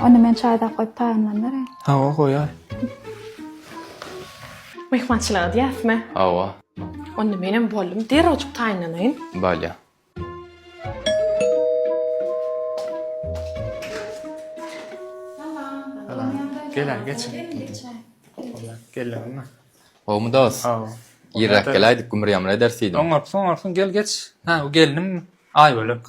Onda men çaýdak goýup taýynlanyp bereýin. Hawa, goýaý. Myhmançylyk edýäsmi? Hawa. Onda menem boldum, derrewjik taýynlanaýyn. Bolýa. Gel-ä, geçiň. Geldiňizmi? Gowumy dost? Hawa. Irräk geläýdik, gümür-ýamyr ederis diýdim. Oňarsyň, oňarsyň, gel, geç. Hä, bu gelnimmi? Aýbölek.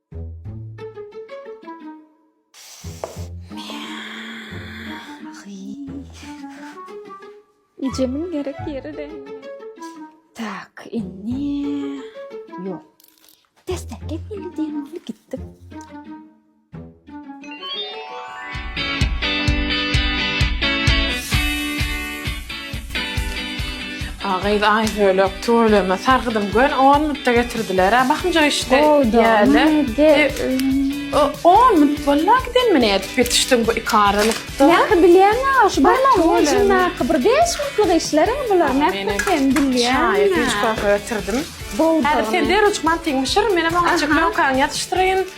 Ejemiň gerek ýeri dälmi? Tak, indi ýok. Dessek, gel indi diýen ýaly gitdik. Gyz aý bölek tüweleme sargydym gön on minutda getirdilerä bakymjak işde ýaly on minut bolna giden men edip ýetişdim bu iki aralykda nähili bilýäňä şu barmagyň bir beş minutlyk işler bular nähili sen bilýäňä çaý getirdim sen derewçik mantyňy bişir menem oňa çeklenkaňy ýatyşdyraýyn